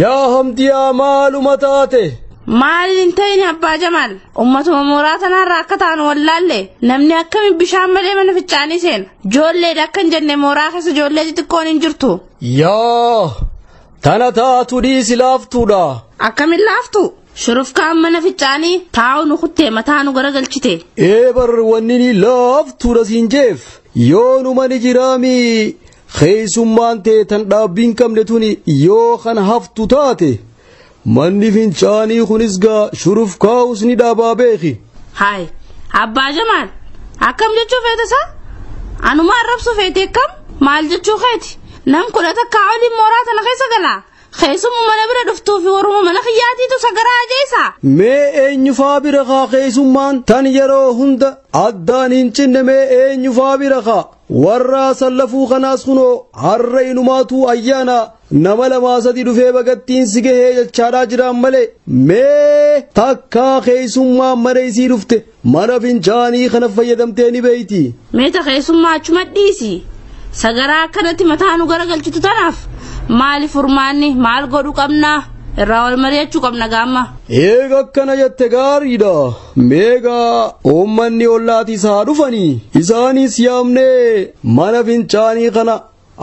Yaa hamdiyaa maaluma taate. Maal hin ta'in abbaa Jamaal ummatuma mooraa tanaarraa akka taanu wallaalle namni akkami bishaan malee mana fincaanii seena joolleedha akka hin jenne mooraa keessa joollee xixiqqoon hin jirtu. Yaa tana taatu dhiisi laaftuudha. Akkamin laaftu shurufkaan mana fincaanii taa'u nu kuttee mataa nu garagalchite. Ee bar wanni ni laaftuudha siin jeef yoo nu mani jiraami Keessummaan tee tan dhaabbiin qabne tuni yoo kan haftu taate manni fincaanii kunis gaa shuruf kaa'us ni dhaabaa beeki. Haay abbaa jamaal akkam jechuu feete isaa anuma arrabsu feete akkam maal jechuu keeti nam kudha takkaa oliin mooraa tana keessa galaa keessumma mana bira dhuftuu fi waruma mana kiyyaatiitu sagaraa ajeessa. Mee eenyufaa bira kaa keessummaan tan yeroo hunda addaan hin cinne mee eenyufaa bira kaa. Warra sallafuu kanaas kunoo har'a inumaatuu ayyaana nama lamaa sadi dhufee bagattiin si gahee jechaadhaa jiraan malee mee takkaa keessummaa mana isii dhufte mana fincaanii kana fayyadamtee ni beeyti. Meeta keessummaa achuma dhiisi. Sagaraa akkanatti mataa nu garagalchitu tanaaf maali furmaanni maal godhu qabna irraa wal mari'achuu qabna gaamma. Eega akkana jette gaariidha. Meegaa uummanni ollaatiis haa dhufanii isaaniis yaamnee mana fincaanii kana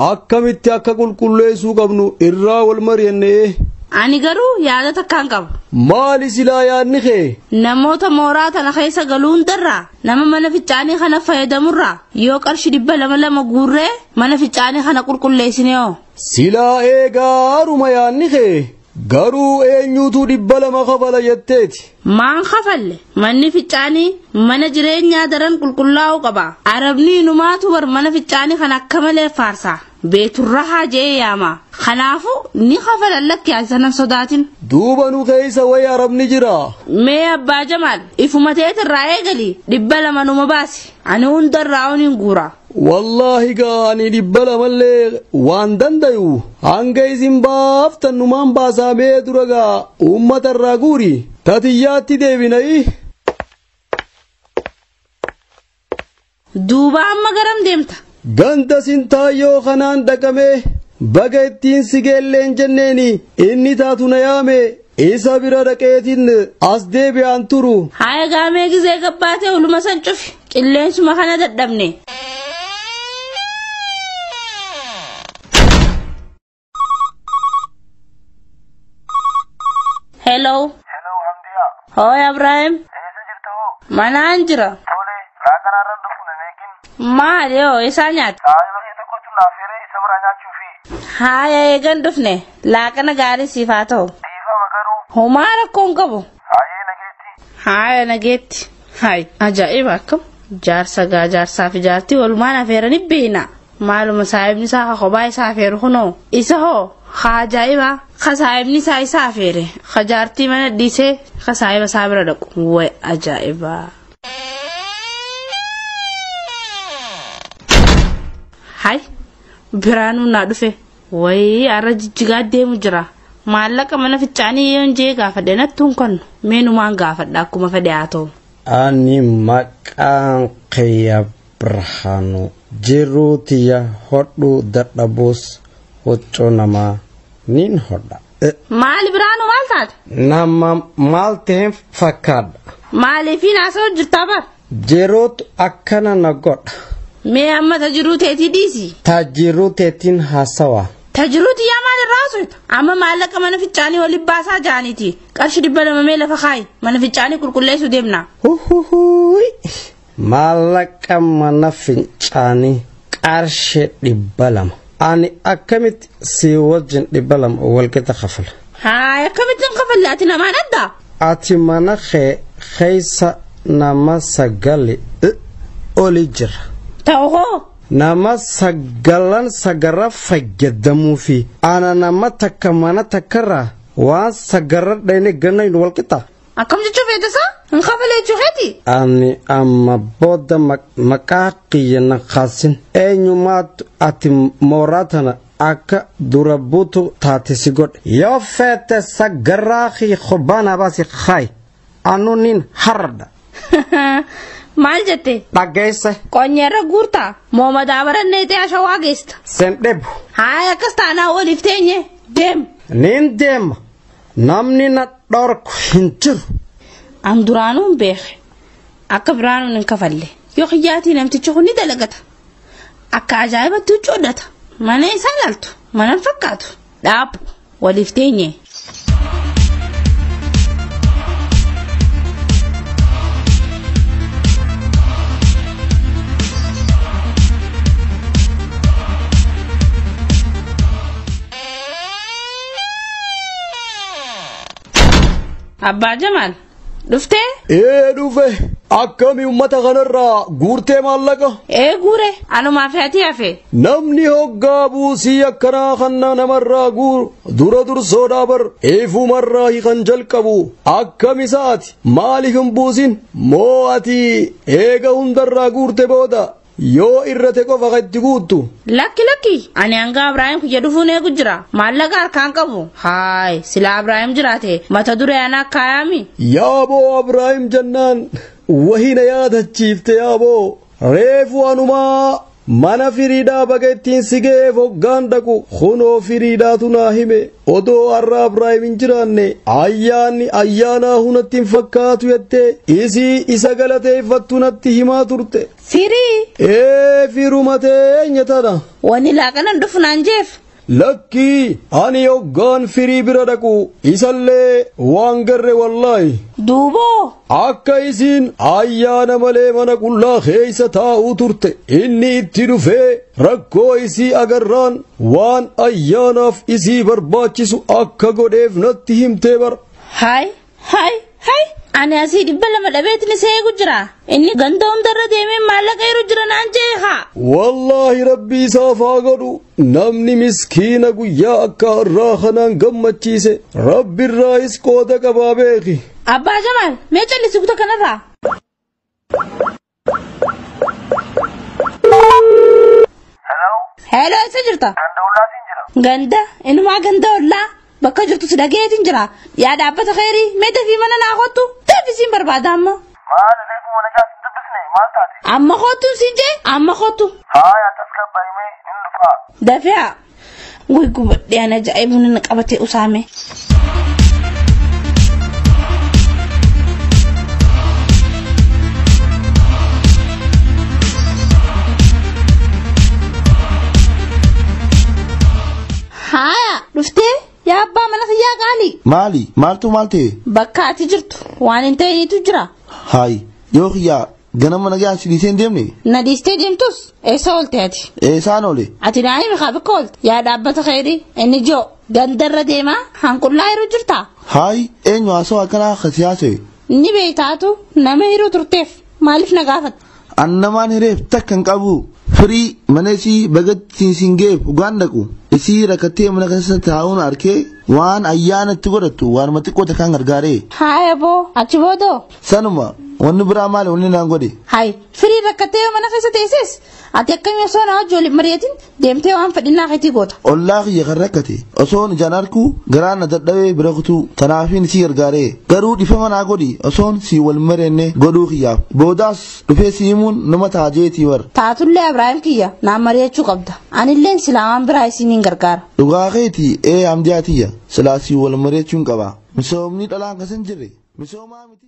akkamitti akka qulqulleessuu qabnu irraa wal mari'annee. Ani garuu yaada takkaan qaba. Maali silaa yaadni kee? Namoota mooraa tana keessa galu hundarraa nama mana fincaanii kana fayyadamurraa yoo qarshi dhibba lama lama guurree mana fincaanii kana qulqulleessinee hoo? Silaa eegaa haruma yaadni kee Garuu eenyuutu dhibba lama kafala jetteeti. Maan kafalle manni ficcaanii mana jireenyaa daran qulqullaa'uu qaba. Arabni inumaatu bar mana ficcaanii kan akka malee faarsa. Beeturrahaa je'ee yaama. Kanaafuu ni kafalan lakki asanan sodaatin. Duuba nu keessa wayi arabni jira. Mee abbaa jamaal ifuma teetirraa eegali dhibba lama numa baasi. Ani hundarraa oniin guuraa. wallaahi gaa ani dhibba lamallee waan dandayu hanga isin baaftan numaan baasaa mee dura gaa uummata irraa guuri tatiyyaatti deebinayi duuba amma garam deemta ganda sintaayyoo kanaan dhaqamee baga ittiin sigeelleen jenneeni inni taatu na yaame Isa bira dhaqeetiin as deebi'aan turu. Haa egaa mee gizee gabbaatee uluma san cufi. Qilleensuma kana dadhabne. Hello. Hello Hamdiya. Hooy Abraahim. Eessa jirta hoo? Manaan jira. Tole, laaqanaarran dhufu nan eegin. Maali hoo isaa nyaata? Saayii bakka itti gochuun naaf hiree isa biraa nyaachuu fi. Haaya eegan dhufne laaqana gaarii siif haa ta'u. Dhiifama garuu. Homaa rakkoo hin qabu. Haayee nageetti. Haaya nageetti. Haay ajaa'iba akkam jaarsa gaa jaarsaa fi jaartii walumaan afeeranii beeyna. Maaluma saayibni isaa ka kophaa isaa afeeru kunoo. Isa hoo ka ajaa'iba ka saayibni isaa isa afeere ka jaartii mana dhiisee ka saayiba isaa bira dhaqu. Way ajaa'iba. hay biraanuu naa dhufe wayii arra jijjigaa deemu jira maallaqa mana fichaanii yoon jee gaafadhe nattuun kan meenumaan gaafadha akkuma fedhe haa ta'u. ani maqaan kiyya Birhaanuu. Jiruu tiyya hodhuu dadhabuus huccuu namaa niin hodha. Eh, Maali biraanu maal taate? Nama maal ta'een fakkaadha. Maaliifiin haasa'u jirtaa bar? Jiruutu akkana na godha. Mee amma ta jiruu teetii dhiisi. Ta jiruu teetiin haasawa. Ta jiruu tiyyaa maal irraa haasofta? Amma maallaqa mana fincaanii oli baasaa jaaniiti. Qarshi dhibba lama mee lafa kaayi. Mana fincaanii qulqulleessuu deemna. Huhuhuuyi. Maallaqa mana fincaanii qarshii dhibba lama. Ani akkamitti si wajjin dhibba lama walqixa kafala. Haay akkamittiin kafalle ati namaan adda? Ati mana kee keessa nama sagali oli jira. Ta'u hoo? Nama sagalan sagara fayyadamuu fi ana nama takka mana takkarraa waan sagarra dhayne ganna hin walqixa. Akkam jechuu feete isaa? Hin kafalee jechuu keeti? Ani amma booda maqaa kiyya na kaasin. Eenyumaatu ati mooraa tana akka dura buutu taate si godhe. Yoo feete sagarraa kee qubbaanaa baasi kaayi. Anu nin har'adha. Maal jette? Dhaggeesse. Qonyeerra guurtaa? Moo madaa barannee ta'e ashawaa geesta? Sen dhebu. Haaya akkas taanaa waliif teenye deem. Nin deema. Namni na dhorku hin jiru. An duraanuu hin beeke. Akka biraanuun hin kafalle. Yoo kiyyaatii namtichi kun ni dalagata. Akka ajaa'ibatti huccuu hodhata. Mana isaa ilaaltu. Mana hin fakkaatu. Dhaabbu. Waliif teenye. Abbaa Jamaal dhuftee? Ee dhufe akkami ummata kanarraa guurtee maallaqa? Ee guure anumaa fi ati hafe. Namni hoggaa buusii akkanaa kanna namarraa guuru dura dursoodhaa bar eefumarraa hikan jalqabu akkami sa'ati maaliif hin buusin moo ati eega hundarraa guurte booda Yoo irrate qofa ka itti guuttu. Lakki lakki ani hanga Abraahim kiyya dhufuun eegu jira maallaqa harkaan qabu haay silaa Abraahim jiraate mata duree anaa kaayaami. Yaaboo Abraahim jennaan wahii na yaadachiifte yaaboo reefu anumaa mana firiidhaa baga ittiin si ga'eef hoggaan dhaqu kunoo firiidhaatu naa hime odoo har'a Abraahim hin jiraanne ayyaanni ayyaanaa hunatti hin fakkaatu jettee isii isa galateeffattu natti himaa turte. Firii! Ee firuma teenya tana. Wani laaqanan dhufu naan jeef. Lakkii ani hoggaan firii bira dhaqu isallee waan garre wallaahi. Duuboo! Akka isiin ayyaana malee mana qullaa keessa taa'uu turte inni itti dhufee rakkoo isii agarraan waan ayyaanaaf isii barbaachisu akka godheef natti himtee bara. Haay! Hay hay ani asii dhibba lama dhabeetni seegu jira inni ganda hundarra deemee maallaqa yeroo jira naan jee haa. Wallaahi rabbi isaaf haa godhu namni miskiina guyyaa akka har'aa kanaan gammachiise rabbi irraa is qooda qabaa beeki. Abbaa Jamaal mee callisii kuta kanarraa. Hello eessa jirta? Ganda ollaatiin jira. Ganda inumaa ganda ollaa bakka jirtu si dhageetiin jira. Yaa dhaabbata keerii mee dafii mana naa kottu deebisiin barbaada amma. Maal reefu mana jaas hin dubbisne maal taate? Amma kottu si jee amma kottu. Haaya tasgabbaa'imee hin dhufaa. Dafee haa. Way gubadhee ana ajaa'ibu nana qabatee usaame. Haaya dhuftee yaa abbaa mana kiyyaa qaalii. Maali? Maaltu maal ta'e? Bakka ati jirtu waan hin ta'initu jira. Haay yoo kiyyaa Ganama nagaan si dhiisee hin deemne? Na dhiistee deemtus eessa oolte ati? Eessaan oole? Ati naa'ima kaa bakka oolte? Yaa dhaabbata keedhi inni joo gandarra deemaa hanqullaa yeroo jirtaa? Haayi eenyu haasoo akkanaa akka si haasa'e? Ni beektaatu nama hiruu turteef maaliif na gaafata? An namaan hireef takka hin qabu. Firii mana isii bagatti siin ga'eef dhugaan dhaqu. Isii rakkattee mana keessa taa'uun arkee waan ayyaana itti godhattu waanuma xiqqoo takkaan gargaaree. Haaya boo achi boodoo Sanuma wanni biraa maali wanni naan godhe. Hayi firii rakkattee yoo mana keessa teesses ati akkamii osoo na wajjin waliin mari'atin deemtee waan fedhinnaa keetii goota. Ollaa kiyya kan rakkate osoon ijaan arkuu garaa na dadhabee bira kutuu tanaafiin si gargaaree garuu dhifama naa godhi osoon si wal mareenne godhuu kiyyaaf boodaas dhufee si himuun nama ta'a jeetii bar. Taatullee Abiraahim kiyya naan mari'achuu qabda. Anilleen silaa waan biraa isiniin gargaara. Dhugaa keeti ee amdiyaa tiyya silaa si wal mareechuun qaba. Misoomni dhalaan kasan jirre misoomaa miti.